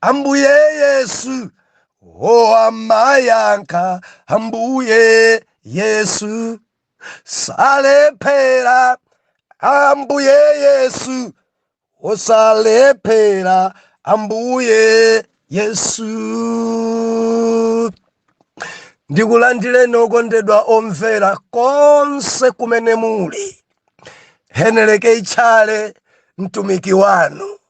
Ambuye Yesu, oh amayankha Ambuye Yesu, salephera Ambuye Yesu, oh salephera Ambuye Yesu. Ndikulandireni okondedwa omvera konse kumene muli. Henry K. Chale, mtumiki wanu.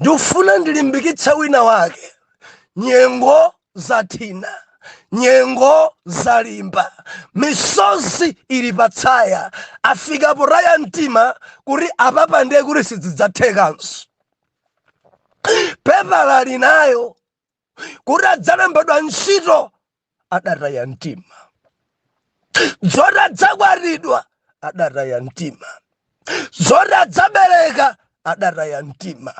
ndifuna ndilimbikitse wina wake nyengo zathina nyengo zalimba misozi ili patsaya afika potaya mtima kuti apapa ndiye kuti sidzidzathekanso pepala linayo kuti adzalembedwa ntchito adataya mtima zoti adzakwatidwa adataya mtima zoti adzabereka adataya mtima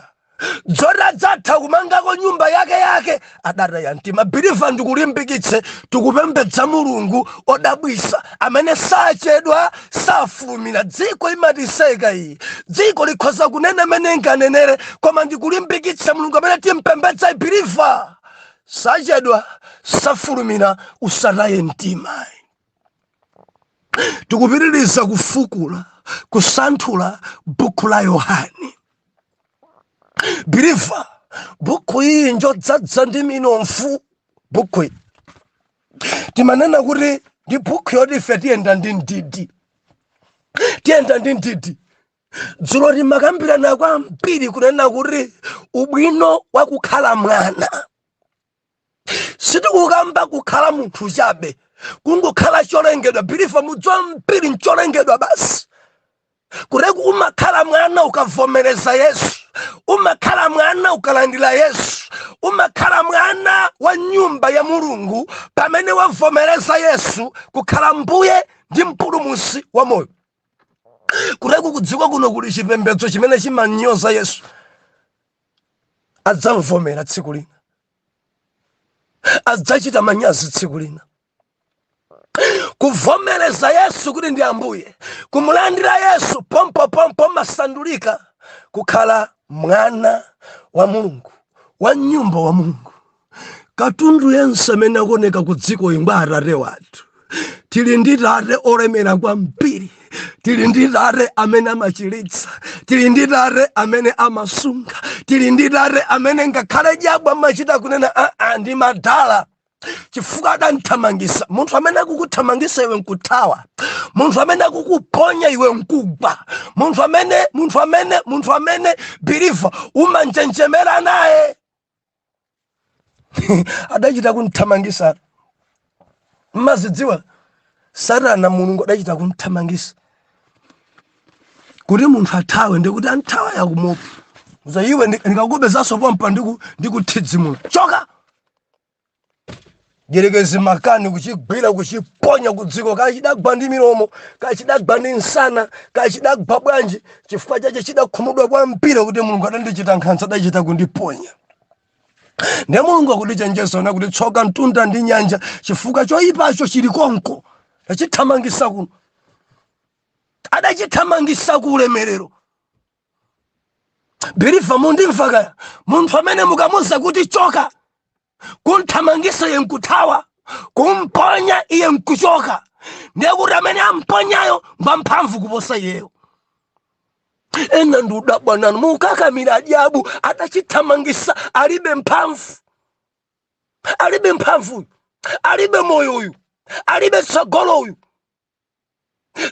zoti adzatha kumangako nyumba yake yake adataya mtima believer ndikulimbikitse tikupembedza mulungu odabwisa amene sachedwa safulumira dziko imatiseka ayi dziko likhoza kunena mmene inganenere koma ndikulimbikitsa mulungu amene timpembedza believer sachedwa safulumira usataye mtima tikupitiriza kufukula kusanthula buku la Yohane believer buku iyi ndi yodzadza ndi minofu buku iyi timanena kuti ndi buku yoti ife tiyenda ndi mdidi tiyenda ndi mdidi dzulo timakambirana kwambiri kunena kuti ubwino wakukhala mwana sitikukamba kukhala munthu chabe kungokhala cholengedwa believer mudziwa phiri ncholengedwa basi kuteroku umakhala mwana ukavomereza yesu umakhala mwana ukalandira yesu umakhala mwana wa nyumba ya mulungu pamene wavomereza yesu kukhala mbuye ndi mpulumutsi wa moyo kuteroku kudziko kuno kuli chipembedzo chimene chimanyoza yesu adzamvomera tsiku lina adzachita manyazi tsiku lina kuvomereza yesu kuti ndi ambuye kumulandira yesu pompopompo umasandulika kukhala mwana wa mulungu wa mnyumba wa mulungu katundu yense amene akuoneka ku dziko ngwa atate wathu tili ndi tate olemera kwambiri tili ndi tate amene amachiritsa tili ndi tate amene amasunga tili ndi tate amene ngakhale dyabu amachita kunena aa ndi madala chifukwa adamthamangisa munthu amene akukuthamangisa iwe nkuthawa munthu amene akukuponya iwe nkugwa munthu amene munthu amene munthu amene biliva umanjenjemera naye adachita kumthamangisa mmazidziwa satana mulungu adachita kumthamangisa kuti munthu athawe ndikuti anthawa yakumupa za iwe ndikakupezanso pompa ndikuthidzimula choka mdyerekezi makani kuchigwira kuchiponya kudziko kachidagwa ndi milomo kachidagwa ndi nsana kachidagwa bwanji chifukwa chache chidakhumudwa kwambiri kuti mulungu adandichita nkhanza adachita kundiponya ndiye mulungu akutichenjeza kuti tsoka mtunda ndi nyanja chifukwa choyipacho chili konko achithamangisa kuno adachithamangisa ku ulemerero biliva mundimva kaya munthu amene mukamuza kuti choka kunthamangisa iye nkuthawa kumponya iye nkuchoka ndiye kuti amene amponyayo ngwamphamvu kuposa iyeyo ena ndikudabwa nanu mukakamira adyabu adachithamangisa alibe mphamvu alibe mphamvu uyu alibe moyo uyu alibe tsogolo uyu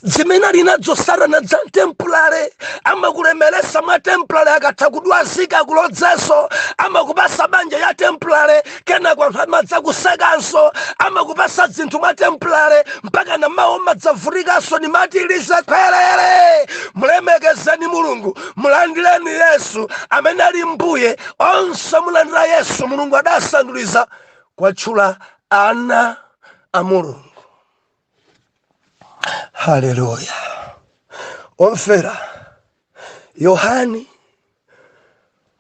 zimene ali nazo satana za tempulale amakulemeresa mwa tempulale akatha kukudwazika akulodzenso amakupasa banja ya tempulale kena kwatha amadza kusekanso amakupasa zinthu mwa tempulale mpaka na mawu mudzavutikanso ni matilize khwerere mulemekezeni mulungu mulandileni yesu amene ali mbuye onse omulandira yesu mulungu adasanduliza kwatchula ana a mulungu haleluya omfera yohani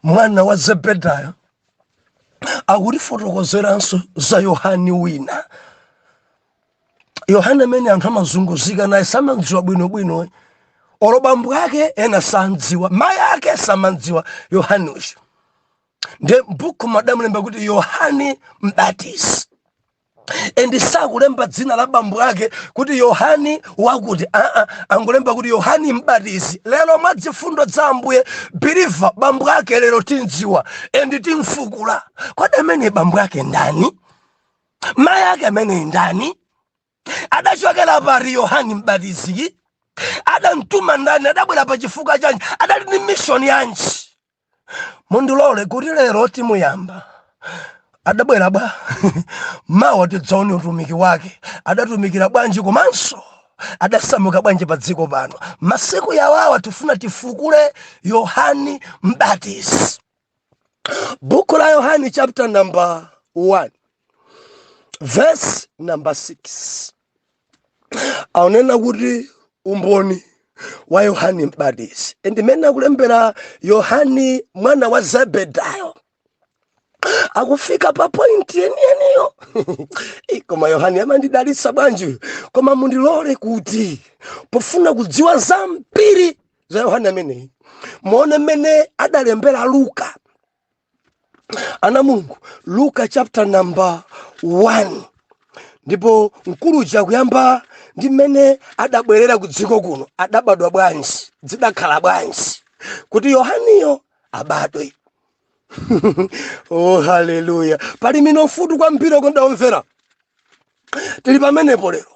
mwana wa zebedayo akutifotokozeranso za yohani wina yohani amene anthu amazunguzika naye samamdziwa bwinobwino olo bambo ake ena samamdziwa mayi ake samamdziwa yohani uyu ndiye m'bukuma adamulemba kuti yohani mbatizi and sakulemba dzina la bambo ake kuti yohani wakuti aa angolemba kuti yohani mbatizi lero mwa zifundo za ambuye biliva bambo ake lero timdziwa and timfukula kodi ameneyi bambo ake ndani mayi ake ameneyi ndani adachokera pati yohani mbatizi adamtuma ndani adabwera pa chifukwa chanji adali ni mishoni yanji mundilole kuti lero timuyamba adabwera bwa mawa tidzaone utumiki wake adatumikira bwanji komanso adasamuka bwanji pa dziko pano masiku awawa tifuna tifukule yohani mbatizi buku la yohani chapter number 1 verse number 6 akunena kuti umboni wa yohani mbatizi and mmene akulembera yohani mwana wa zebedayo akufika pa pointi yeniyeniyo koma yohani amandidalitsa bwanji koma mundilole kuti pofuna kudziwa zambiri za yohani ameneyi muone mmene adalembera luka ana mulungu luka chapter number 1 ndipo mkulu uja akuyamba ndi mmene adabwerera ku dziko kuno adabadwa bwanji zidakhala bwanji kuti yohaniyo abadwe oh haleluya pali minofu kwambiri kondawomvera tili pamenepo lero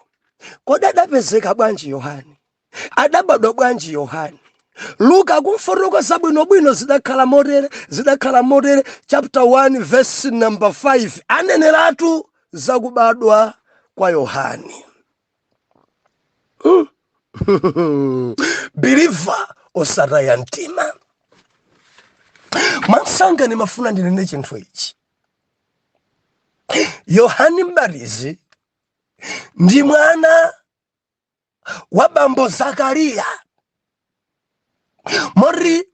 kodi adapezeka bwanji yohani Adabadwa bwanji Yohane? Luka akumfotokoza bwinobwino zidakhala motere, zidakhala motere, chapter 1 verse number 5 aneneratu za kubadwa kwa Yohane. Hmm. Believer osataya mtima. Mwansanga nimafuna ndinene chinthu ichi. Yohane Mbatizi ndi mwana wa bambo zakariya moti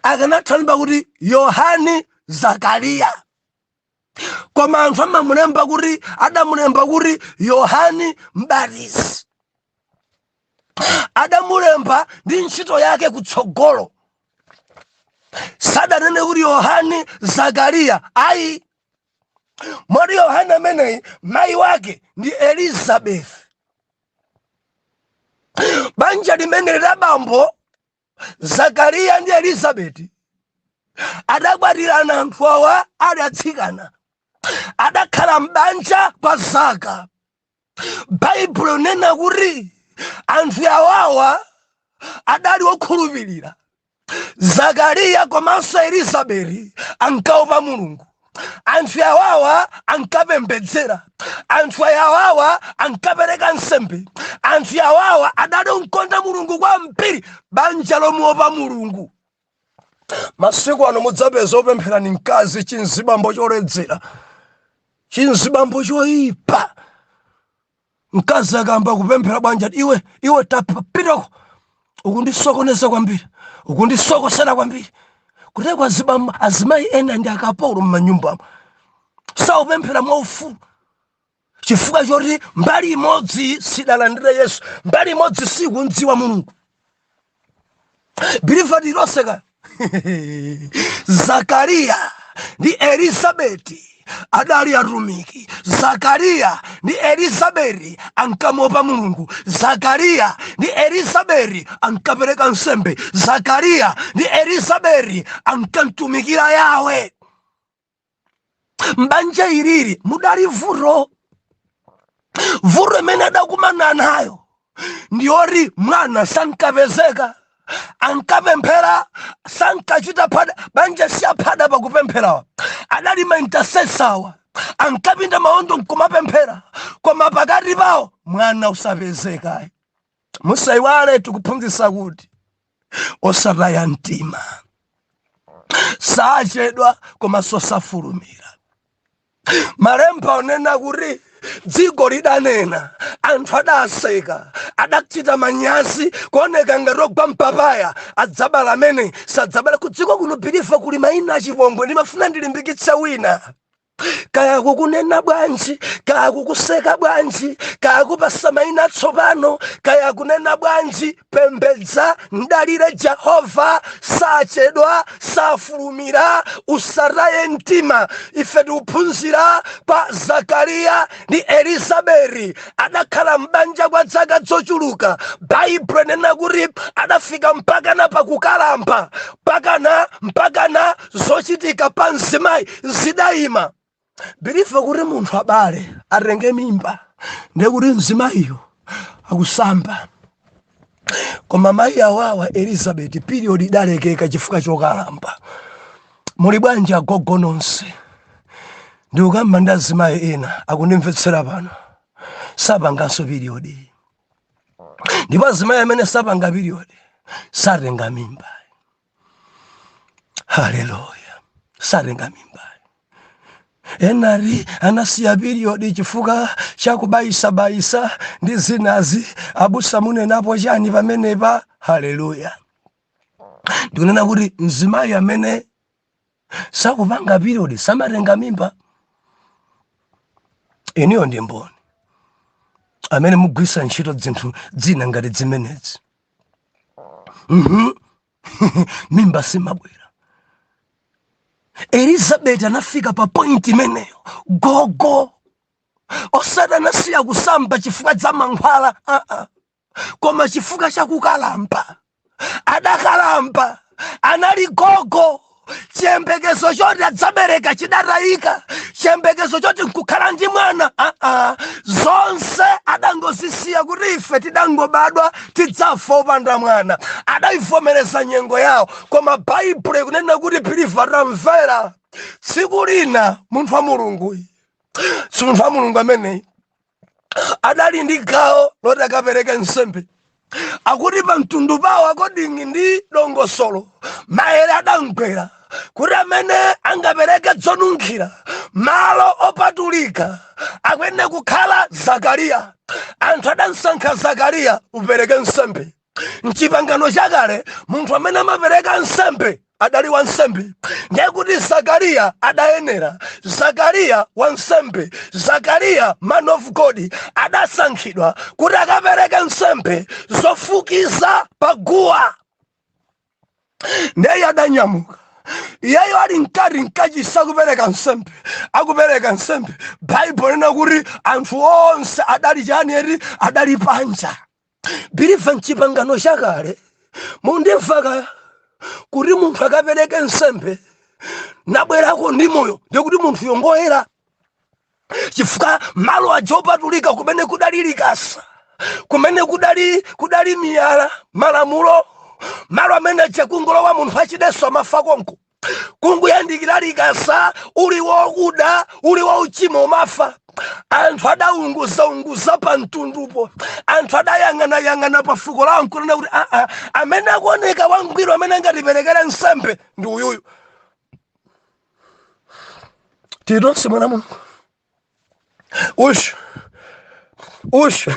akanatha kulemba kuti yohani zakariya koma anthu amamulemba kuti adamulemba kuti yohani mbatizi adamulemba ndi ntchito yake kutsogolo sadanene kuti yohani zakariya ayi moti yohane ameneyi mayi wake ndi elizabeth banja limeneli la bambo zakariya ndi elizabeti adakwatirana anthu awa adali atsikana adakhala m'banja kwa zaka baibulo likunena kuti anthu awawa adali okhulupirira zakariya komanso elizabeti ankaopa mulungu anthu awawa ankapembedzera anthu awawa ankapereka nsembe anthu awawa adali omkonda mulungu kwambiri banja lomuopa mulungu masiku ano mudzapeza opemphera ni mkazi chinzibambo choledzera chinzibambo choipa mkazi akayamba kupemphera amvekere iwe iwe tapitako ukundisokoneza kwambiri ukundisokosera kwambiri kuteko aziba azimayi ena ndi akapolo mmanyumbamo saupemphera mwaufulu chifukwa choti mbali imodzi sidalandira yesu mbali imodzi sikumdziwa mulungu biliva lilonse ka zakariya ndi elizabeti adali atumiki zakariya ndi elizabeti ankamuopa mulungu zakariya ndi elizabeti ankapereka nsembe zakariya ndi elizabeti ankamtumikira yawe m'banja ilili mudali vuto vuto imene adakumana nayo ndiyoti mwana sankapezeka ankapemphera sankachita phada banja siyaphada pakupempherawa adali maintasesawa ankapinda maondo nkumapemphera koma pakati pawo mwana usapezeka musaiwale tikuphunzitsa kuti osataya mtima sachedwa komanso safulumira malemba onena kuti dziko lidanena anthu adaseka adachita manyazi kuoneka ngati ogwa mpapaya adzabala amene sadzabala kudziko kuno biliva kuli maina achipongwe ndimafuna ndilimbikitse wina kaya akukunena bwanji kaya akukuseka bwanji kaya akupasa maina atsopano kaya akunena bwanji pembedza mdalire jehova sachedwa safulumira usataye mtima ife tikuphunzira kwa zakariya ndi elizabeti adakhala m'banja kwa dzaka zochuluka baibulo inena kuti adafika mpakana pakukalamba mpakana mpakana zochitika pa mzimayi zidayima biliva kuti munthu abale atenge mimba ndiye kuti mzimayiyo akusamba koma mayi awawa elizabeti period idalekeka chifukwa chokalamba muli bwanji agogo nonse ndikukamba ndi azimayi ena akundimvetsera pano sapanganso period ndipo azimayi amene sapanga period satenga mimba haleluya satenga mimba ena ati anasiya piriyodi chifukwa chakubayisabayisa ndi zinazi abusa munenapo chani pamenepa haleluya ndikunena kuti mzimayi amene sakupanga piriyodi samatenga mimba inuyo ndi mboni amene mugwisa ntchito dzinthu dzina ngati dzimenezi Mhm. mimba simabwera elizabeti anafika pa pointi imeneyo gogo osati anasiya kusamba chifukwa cha mankhwala ah, ah. koma chifukwa cha kukalamba adakalamba anali gogo chiyembekezo choti adzabereka chidatayika chiyembekezo choti nkukhala ndi mwana aa ah, ah. zonse adangozisiya kuti ife tidangobadwa tidzafa opanda mwana adayivomereza nyengo yawo koma baibulo ikunena kuti biliva tamvera tsiku lina munthu wa mulungu si munthu wa mulungu ameneyi adali ndi gawo loti akapereke nsembe akuti pa mtundu pawo according ndi dongosolo maere adamgwera kuti amene angapereke dzonunkhira malo opatulika akuyenera kukhala zakariya anthu adamsankha zakariya upereke nsembe Mchipangano chakale munthu amene amapereka nsembe adali wansembe ndiye kuti zakariya adayenera zakariya wansembe zakariya man of god adasankhidwa kuti akapereke nsembe zofukiza pa guwa ndiye adanyamuka iyeyo ali mkati mkachisi akupereka nsembe akupereka nsembe baibulo linena kuti anthu onse adali chani eti adali panja Believer m'chipangano chakale mundimva ka kuti munthu akapereke nsembe nabwerako ndi moyo ndikuti munthuyo ngoyera chifukwa malo aja opatulika kumene kudali likasa kumene kudali kudali miyala ya malamulo malo amene aja kungolowa munthu wachidetso amafa konko kungoyandikira likasa uli wokuda uli wauchimo umafa anthu adaunguzaunguza pa mtundupo anthu adayang'anayang'ana pa fuko lawo nkunena kuti aa ah, ah, amene akuoneka wangwiro amene angatiperekera nsembe ndi uyuyu tili tonse mwana wa mulungu ushu ushu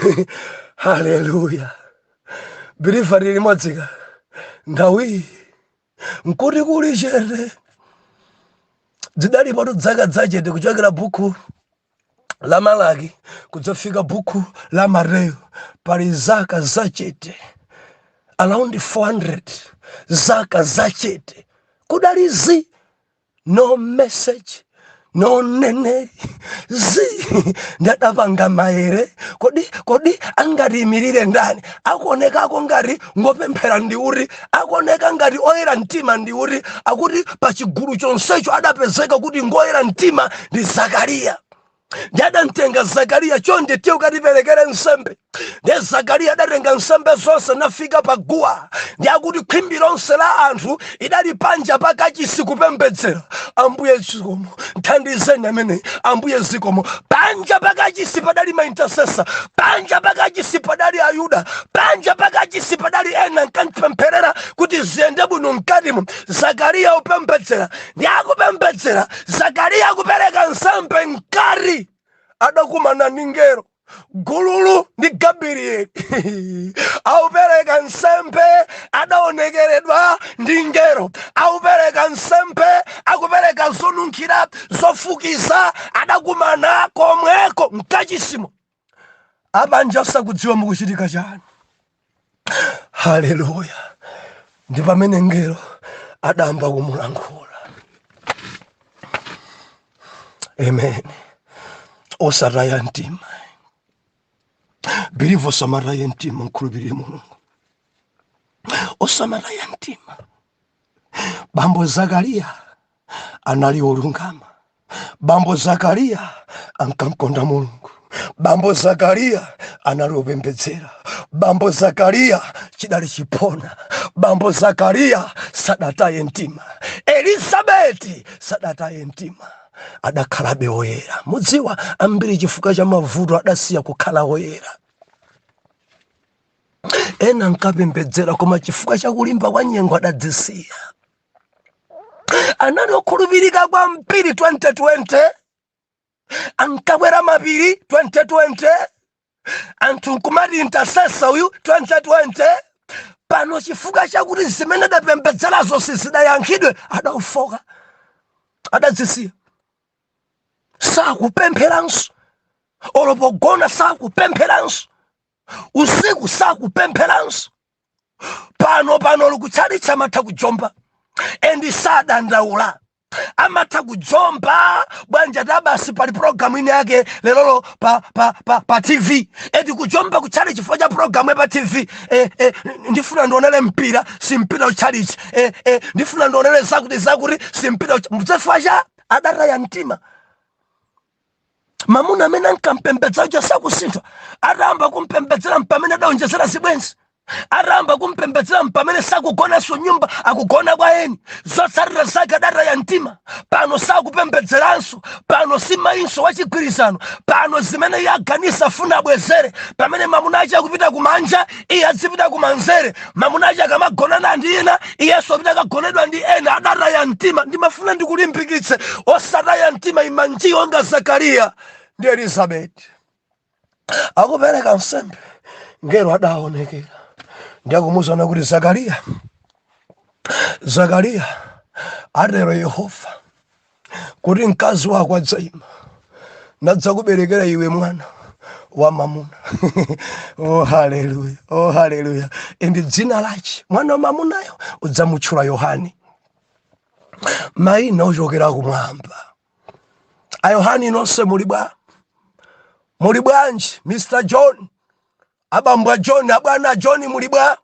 haleluya believer tili limodzi ka nthawiyi nkuti kuli chete dzidalipotu dzaka dzachete kuchokera bukhu la malaki kudzafika bukhu la mateyo pali zaka zachete around 400 zaka zachete kudali zi no message no neneri zi nde adapanga maere kodi kodi angatiimirire ndani akuonekako ngati ngopemphera ndi uti akuoneka ngati oyera mtima ndi uti akuti pa chigulu chonsecho adapezeka kuti ngoyera mtima ndi zakariya nde adamtenga zakariya chonde tiye ukatiperekere nsembe ndiye zakariya adatenga nsembe zonse nafika pa guwa nde akuti khwimbi lonse la anthu lidali panja pa kachisi kupembedzera ambuye zikomo mthandizeni ameneyi ambuye zikomo panja pa kachisi padali ma intercessor panja pa kachisi padali ayuda panja pa kachisi padali ena nkumampempherera kuti ziyende bwino mkatimo zakariya upembedzera ndi akupembedzera zakariya kupereka nsembe mkati adakumana ndi ngero gululu ndi gabrieli akupereka nsembe adaonekeredwa ndi ngero akupereka nsembe akupereka zonunkhira zofukiza adakumana komweko mkachisimo apanja asakudziwa mukuchitika chani haleluya ndi pamene ngelo adayamba kumulankhula amen osataya mtima believe osamataya mtima mkhulupirire mulungu osamataya mtima Bambo Zakariya anali olungama. Bambo Zakariya ankamkonda Mulungu. Bambo Zakariya anali opembedzera. Bambo Zakariya chidali chiphona. Bambo Zakariya sadataye mtima. Elizabeti sadataye mtima adakhalabe oyera. Mudziwa ambiri chifukwa cha mavuto adasiya kukhala oyera. ena ankapembedzera koma chifukwa cha kulimba kwa nyengo adadzisiya anali okhulupirika kwambiri 2020 ankakwera mapiri 2020 anthu nkumati intercessor uyu 2020 pano chifukwa chakuti zimene adapembedzerazo sizidayankhidwe adafooka adadzisiya sakupempheranso olo pogona sakupempheranso usiku sakupempheranso pano pano olo kutchalitchi amatha kujomba endi sadandaula amatha kujomba bwanji ati basi pali programu inayake lelolo pa, pa, pa, pa tv eti kujomba kutchalitchi chifukwa cha programu pa tv eh, eh, ndifuna ndionele mpira simpita kutchalitchi eh, eh, ndifuna ndionele zakuti zakuti simpita uch- chifukwa cha adataya mtima mamuna amene ankampembedzera uja sakusintha atayamba kumpembedzera mpamene adaonjezera zibwenzi atayamba kumpembedzera mpamene sakugonanso mnyumba akugona kwa eni zotsatira zake adataya mtima pano sakupembedzeranso pano si mayinso wachigwirizano pano zimene iye aganiza afuna abwezere pamene mamuna ache akupita kumanja iye azipita kumanzere mamuna ache akamagonana ndi ena iyenso apita akagonedwa ndi ena adataya mtima ndimafuna ndikulimbikitse osataya mtima ima nji onga zakariya ndi elizabeti akupereka nsembe ngero adaonekera ndi akumuuzano kuti zakariya zakariya atero yehova kuti mkazi wako adzaima nadzakuberekera iwe mwana wamwamuna oh haleluya oh haleluya ndi dzina lache mwana wa mamunayo udzamutchula yohani maina ochokera kumwamba a yohani nonse muli bwa muli bwanji mr john abambo a john abwana a john muli bwa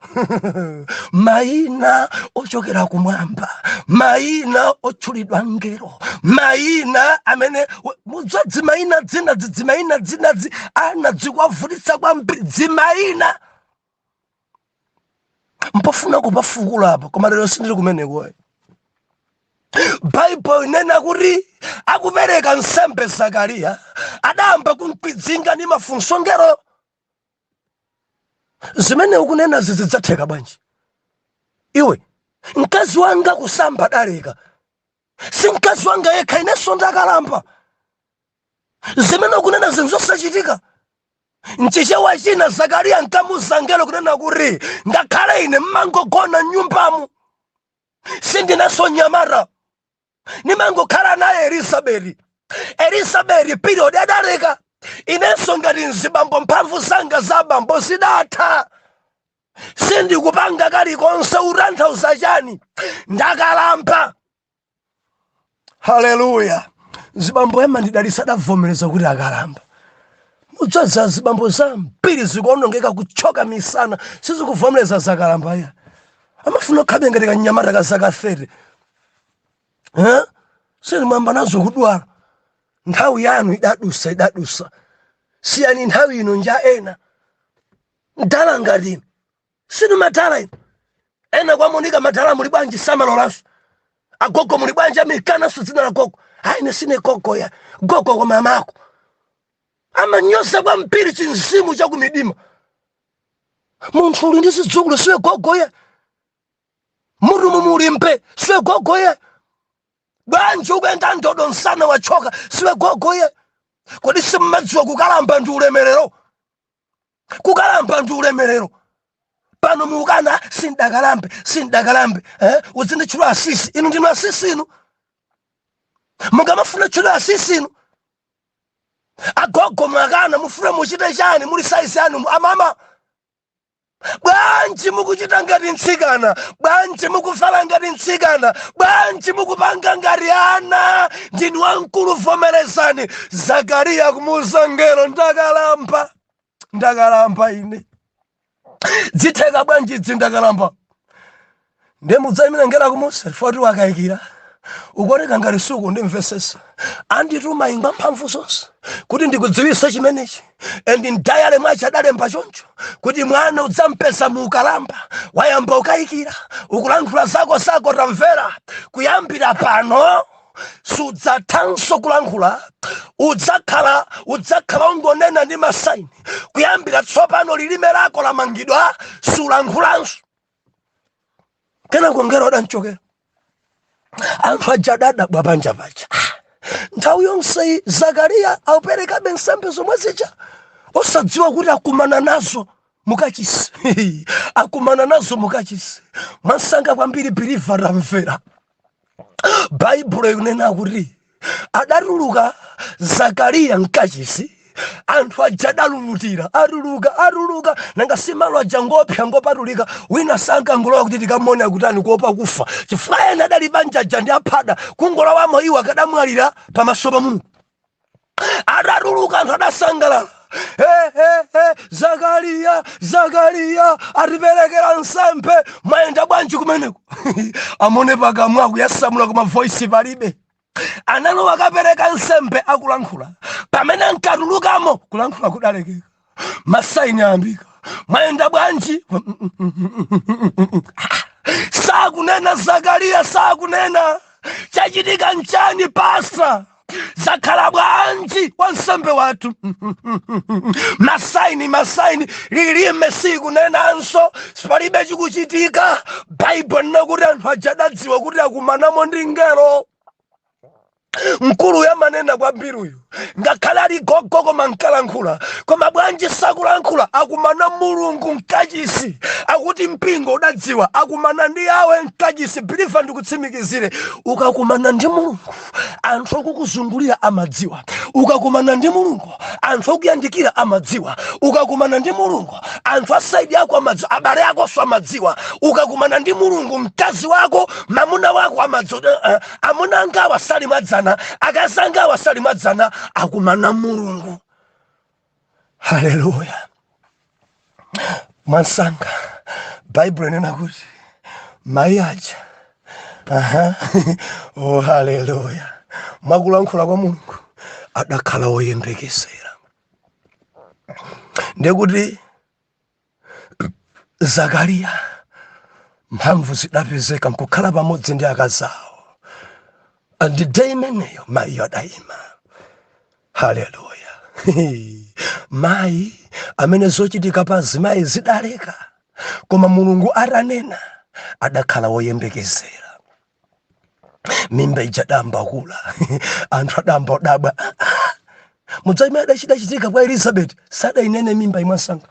mayina ochokera kumwamba mayina otchulidwa mngelo mayina amene mudza dzimayina dzina dzidzimayina dzina dzi ana zikuwavutitsa kwambiri dzimayina mpofuna kupafukula apo koma lero sindili kumeneko baibulo linena kuti akupereka nsembe zakariya adayamba kumkwidzinga ndi mafunso mngelo zimene ukunena izi zidzatheka bwanji iwe mkazi wanga kusamba adaleka si mkazi wanga yekha inenso ndakalamba zimene ukunena zinthu zosachitika mchichewa china zakariya nkumuuza mngelo kunena kuti ngakhale ine ndimangogona m'nyumbamu sindinenso mnyamata ndimangokhala naye elizabeti elizabeti period adaleka inenso ngati mzibambo mphamvu zanga zabambo zidatha sindikupanga kalikonse utanthauza chani ndakalamba haleluya zibambo amandidalitsa adavomereza kuti akalamba mudzaza zibambo zambiri zikuonongeka kuthyoka misana sizikuvomereza zakalamba iya amafuna akhalebe ngati kanyamata ka zaka 30 Eh? zilimwamba nazo kudwala nthawi yanu idadusa idadusa siyani nthawi ino nja ena mdala ngati inu si inu madala inu ena akamanena madala muli bwanji samalolanso agogo muli bwanji amakananso dzina la gogo ayi ine sine gogo ya gogo kwa mama ako amanyoza kwambiri chinzimu cha kumidima munthu uli ndi zidzukulu siwe gogo ya mutu mu muli imvi siwe gogo ya bwanji ukuyenda ndodo msana wathyoka siwe gogo ya kodi simumadziwa kukalamba ndi ulemerero kukalamba ndi ulemerero pano mukukana sindakalambe sindakalambe eh? uzinditchula asisi inu ndinu asisi inu mukumafuna titchule asisi inu agogo mwakana mufuna muchite chani muli saizi yanu amama bwanji mukuchita ngati mtsikana bwanji mukuvala ngati mtsikana bwanji mukupanga ngati ana ndinu wamkulu vomerezani zakariya kumuuza mngelo ndakalamba ndakalamba ine dzitheka bwanji dzi ndakalamba nde mudzayimira ngelo akumuuza foti wakayikira ukuoneka ngati sukundimvesesa andituma ngwa mphamvu zonse kuti ndikudziwisa chimenechi and mdayale mwache adalemba choncho kuti mwana udzampeza mu ukalamba wayamba ukayikira ukulankhula zako zako tamvera kuyambira pano sudzathanso kulankhula udzakhala udzakhala ungonena ndi masaini kuyambira tsopano lilime lako lamangidwa sulankhulanso kenako ngelo adanchokera anthu aja adadabwa panja paja nthawi yonseyi zakariya auperekabe nsembe zomwe zija osadziwa kuti akumana nazo mukachisi akumana nazo mukachisi mwansanga kwambiri biliva tamvera baibulo ikunena kuti adatuluka zakariya mkachisi anthu aja adalulutira atuluka atuluka nanga si malo aja ngoopsa ngopatulika wina sankangolowa kuti tikamuone akutani kuopa kufa chifukwa ena adali banja aja ndi aphada kungolowamo iwo akadamwalira pamaso pa mulungu atatuluka anthu adasangalala Eh, eh, eh, zakariya zakariya atiperekera nsembe mwayenda bwanji kumeneko amone pakamwa akuyasamula koma voisi palibe analowa akapereka nsembe akulankhula pamene ankatulukamo kulankhula kudalekeka masaini ayambika mwayenda bwanji sakunena zakariya sakunena chachitika nchani pasta zakhala bwanji wansembe wathu masaini masaini lilime sikunenanso palibe chikuchitika baibulo inena kuti anthu aja adadziwa kuti akumanamo ndi ngelo mkuluyu amanena kwambiri uyu ngakhale ali gogo koma ankalankhula koma bwanji sakulankhula akumana mulungu mkachisi akuti mpingo udadziwa akumana ndi yawe mkachisi biliva ndikutsimikizire ukakumana ndi mulungu anthu okukuzungulira amadziwa ukakumana ndi mulungu anthu okuyandikira amadziwa ukakumana ndi mulungu anthu asaidi ako amadziwa abale akonso amadziwa ukakumana ndi mulungu mkazi wako mamuna wako amadziwa amuna angawa sali mwadzana akazi angawa sali mwadzana akumana mulungu haleluya mwansanga baibulo inena kuti mayi aja aha oh haleluya mwakulankhula kwa mulungu adakhala woyembekezera ndekuti zakariya mphamvu zidapezeka nkukhala pamodzi ndi akazi awo day imeneyo mayiyo adayima haleluya mayi amene zochitika pa azimayi zidaleka koma mulungu atanena adakhala woyembekezera mimba ija idayamba kukula anthu adayamba kudabwa mudzaime chidachitika kwa elizabeti sadainene mimba ija mwamsanga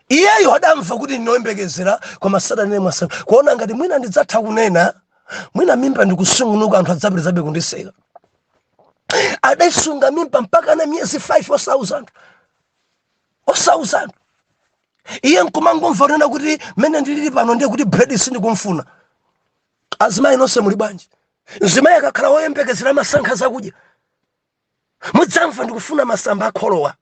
iyeyo adamva kuti ndine oyembekezera koma sadainene mwamsanga kuona ngati mwina ndidzatha kunena mwina mimba ndikusungunuka anthu adzapitirizabe kundiseka adaisunga mimba mpaka na miyezi 5 osauza anthu iye nkumangomva kunena kuti mmene ndilili pano ndiye kuti bredi sindikumfuna azimayi nonse muli bwanji mzimayi akakhala woyembekezera amasankha zakudya mudzamva ndikufuna masamba akholowa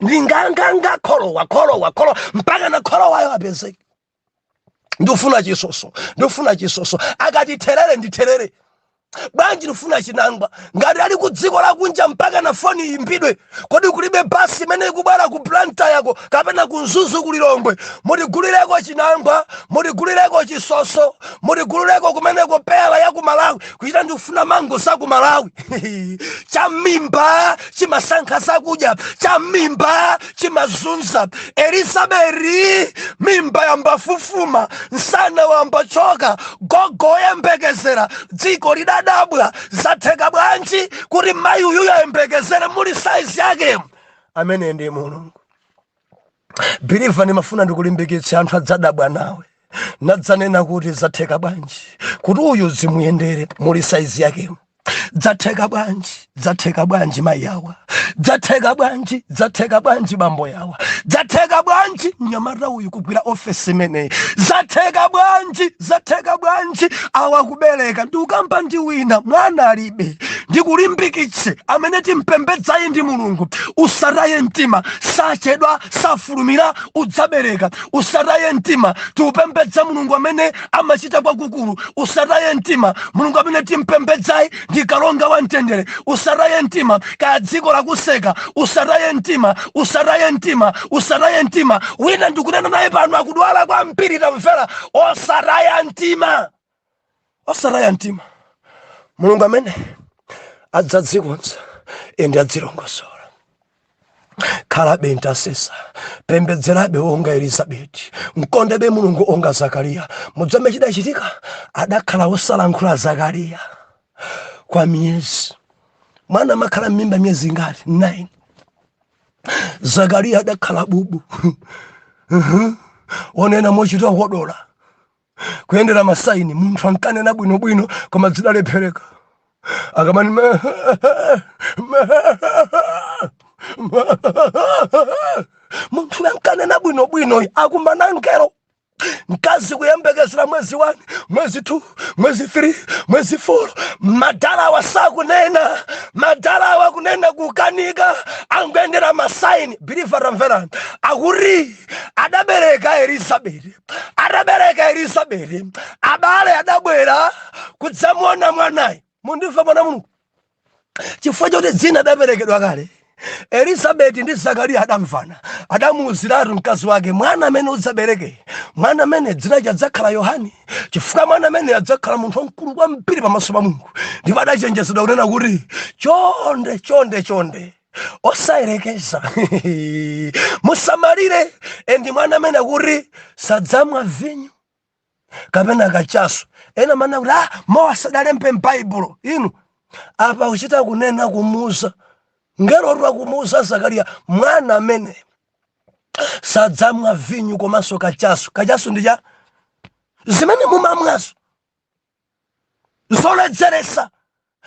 ndi nganganga kholowa kholowa kholowa mpaka na kholowayo apezeke ndifuna chisoso ndifuna chisoso akati therere ndi therere bwanji ndifuna chinangwa ngati ali ku dziko lakunja mpaka na foni iyimbidwe kodi kulibe basi imene ikubwera ku blantyre ko kapena ku mzuzu ku lilongwe mutigulireko chinangwa mutigulireko chisoso mutigulireko kumeneko peyala ya ku malawi kuchita ndikufuna mango za ku malawi cha m'mimba chimasankha zakudya cha m'mimba chimazunza elizabeti mimba yayamba kufufuma nsana wayamba kutchoka gogo woyembekezera dziko lidadabwa zatheka bwanji kuti mayi uyu ayembekezere muli size yake amene ndi mulungu believer ndimafuna ndikulimbikitse anthu adzadabwa nawe nadzanena kuti zatheka bwanji kuti uyu zimuyendere muli size yake zatheka bwanji zatheka bwanji mayi awa zatheka bwanji zatheka bwanji bambo awa zatheka bwanji mnyamata uyu kugwira ofesi imeneyi zatheka bwanji zatheka bwanji awa kubereka ndikukamba ndi wina mwana alibe ndikulimbikitse amene timpembedzayi ndi mulungu usataye mtima sachedwa safulumira udzabereka usataye mtima tikupembedza mulungu amene amachita kwakukulu usataye mtima mulungu amene timpembedzayi ndi kalonga wa mtendere usataye mtima kaya dziko lakuseka usataye mtima usataye mtima usataye mtima wina ndikunena naye pano akudwala kwambiri tamvera osataya mtima osataya mtima mulungu amene adzadzikonza ende adzilongosola khalabe ntasesa pembedzerabe onga elizabeti mkondebe mulungu onga zakariya mudzambe chidachitika adakhala wosalankhula zakariya kwa miyezi mwana amakhala mmimba miyezi ingati 9 zakariya adakhala bubu onena mochita kodola kuyendera masaini munthu ankanena bwinobwino koma zidalephereka akamani me- me- munthu ankanena bwinobwinoyo akumana ngelo mkazi kuyembekezera mwezi 1 mwezi 2 mwezi 3 mwezi 4 madalawa sakunena madalawa kunena kukanika angoyendera masaini biliva tamverani akuti adabereka elizabeti atabereka elizabeti abale adabwera kudzamuona mwanayi mundimve mwana mulungu chifukwa choti dzina adaperekedwa kale elizabeti ndi zakariya adamvana adamuuziratu mkazi wake mwana amene udzabereke mwana amene dzina lake adzakhala yohani chifukwa mwana amene adzakhala munthu wamkulu kwambiri pamaso pa mulungu ndipo adachenjezedwa kunena kuti chonde chonde chonde osayerekeza musamalire endi mwana amene kuti sadzamwa vinyo kapena kachasu ena mmanena kuti ah, mowa sadalembe m'baibulo inu apa kuchita kunena kumuuza ngelo wa kumuuza zakariya mwana amene sadzamwa vinyo komanso kachasu kachasu ndiye zimene mumamwazo zoledzeretsa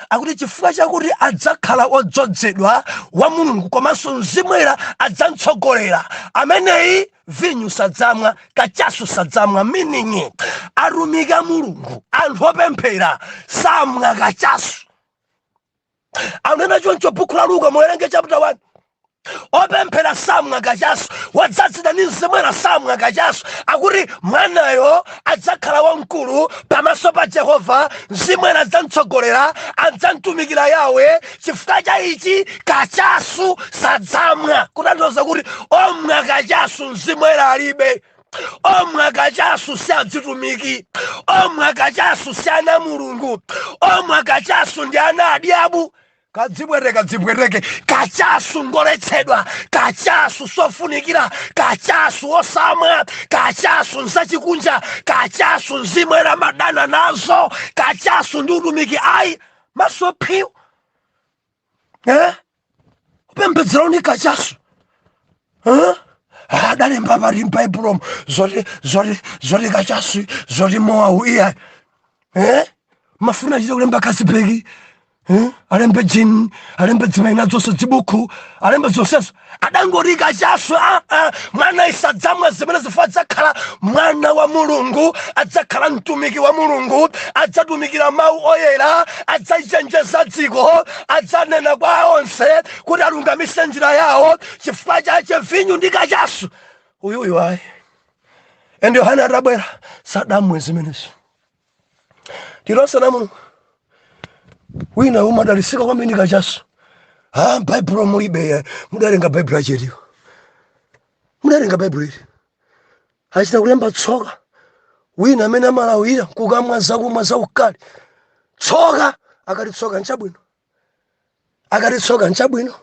akuti chifukwa chakuti adzakhala odzozedwa wa mulungu komanso mzimu woyera adzamtsogolera ameneyi vinyu sadzamwa kachasu sadzamwa meaning atumiki a mulungu anthu opemphera samwa kachasu anena choncho bukhu la luka muwerenge chapter 1 opemphera samwa kachasu wadzazidwa ndi mzimu woyera samwa kachasu akuti mwanayo adzakhala wamkulu pamaso pa jehova mzimu woyera adzamtsogolera adzamtumikira yawe chifukwa cha ichi kachasu sadzamwa kutanthauza kuti omwa kachasu mzimu woyera alibe omwe akachasu si adzitumiki omwe akachasu si ana mulungu omwe akachasu ndi ana adyabu kadzibwereke kadzibwereke kachasu ngoletsedwa kachasu sofunikira kachasu osamwa kachasu nzachikunja kachasu nzimwera madana nazo kachasu ndi utumiki ayi maso phiwu eh? kupembedzera uli kachasu eh? adalemba ah, pati m'baibulomo zoti zoti zoti kachasu zoti mowawu iyayi eh? mafuna achite kulemba kasipeki eh? alembe jini alembe dzimaina zonse chibuku alembe zonsezo adangoti kachasu aa ah, ah, mwanayi sadzamwa zimenezi chifukwa adzakhala mwana wa mulungu adzakhala mtumiki wa mulungu adzatumikira mawu oyera adzachenjeza dziko adzanena kwa onse kuti alungamise njira yawo chifukwa chache vinyu ndi kachasu uyuyu ayi ende yohane atabwera sadamwe zimenezo tilose na mulungu wina umadalisika kwambiri kachasu ha baibulo mulibe mudalenga baibulo achetiwo mudalenga baibulo ili achita kulemba tsoka wina amene amalawira kukamwa zakumwa zaukali tsoka akati tsoka nchabwino akati tsoka nchabwino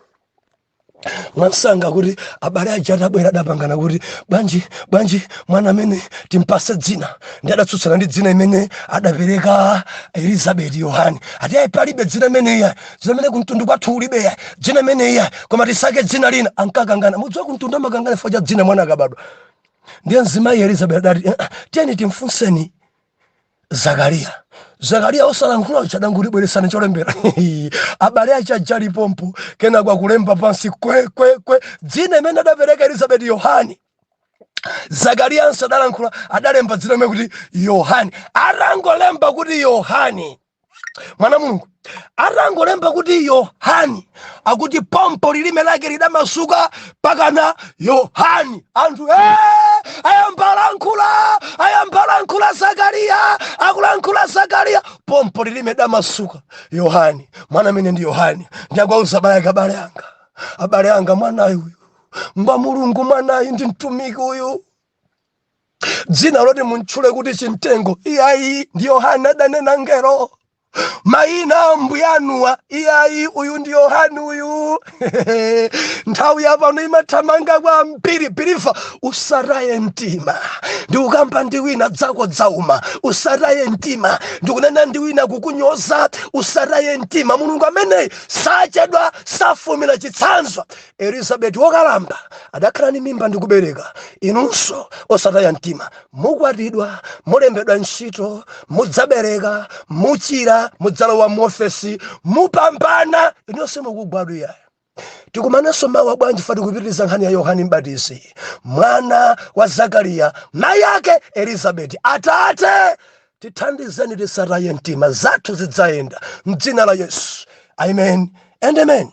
mwansanga kuti abale aja atabwera adapangana kuti bwanji bwanji mwana amene timpase dzina ndi adatsutsana ndi dzina imene adapereka elizabeti yohani ati ayi palibe dzina imeneyi dzina imene kumtundu kwathu kulibe dzina imeneyi koma tisake dzina lina ankakangana mudziwa kumtundu amakangana chifukwa cha dzina mwana akabadwa ndiye mzimayi elizabeti adati "Eh, eh, tiyeni timfunseni zakariya zakariya osalankhula uja adangoti bweretsani cholembera abale ache ajali pompo kenako akulemba pansi kwekwekwe dzina imene adapereka elizabeti yohani zakariyanso adalankhula adalemba dzina imene kuti yohani atangolemba kuti yohani mwana mulungu atangolemba kuti yohani akuti pompo lilime lake lidamasuka pakana yohani anthu ee ayambalankhula ayambalankhula zakariya akulankhula zakariya pompo lilime lidamasuka yohani mwana amene ndi yohani ndiye akuwauza abale ake abale anga abale anga mwanayi uyu ngwa mulungu mwanayi ndi mtumiki uyu dzina loti muntchule kuti chimtengo iyayi ndi yohane adanena mngelo mayina ambuya anuwa iyayi uyu ndi yohane uyu nthawi yapano imathamanga kwambiri believer usataye mtima ndikukamba ndi wina zako zauma usataye mtima ndikunena ndi wina kukunyoza usataye mtima mulungu ameneyi sachedwa safulumira chitsanzo Elizabeti wokalamba adakhala ndi mimba ndi kubereka. Inunso osataya mtima. Mukwatidwa, mulembedwa ntchito, mudzabereka, muchira, mudzalowa muofesi, mupambana! Inuyo simukugwa tu iyayi. Tikumananso mawa bwanji chifukwa tikupitiriza nkhani ya Yohane M'batizi, mwana wa Zakariya, mayi ake Elizabeti. Atate, tithandizeni tisataye mtima. Zathu zidzayenda m'dzina la Yesu. Amen and Amen.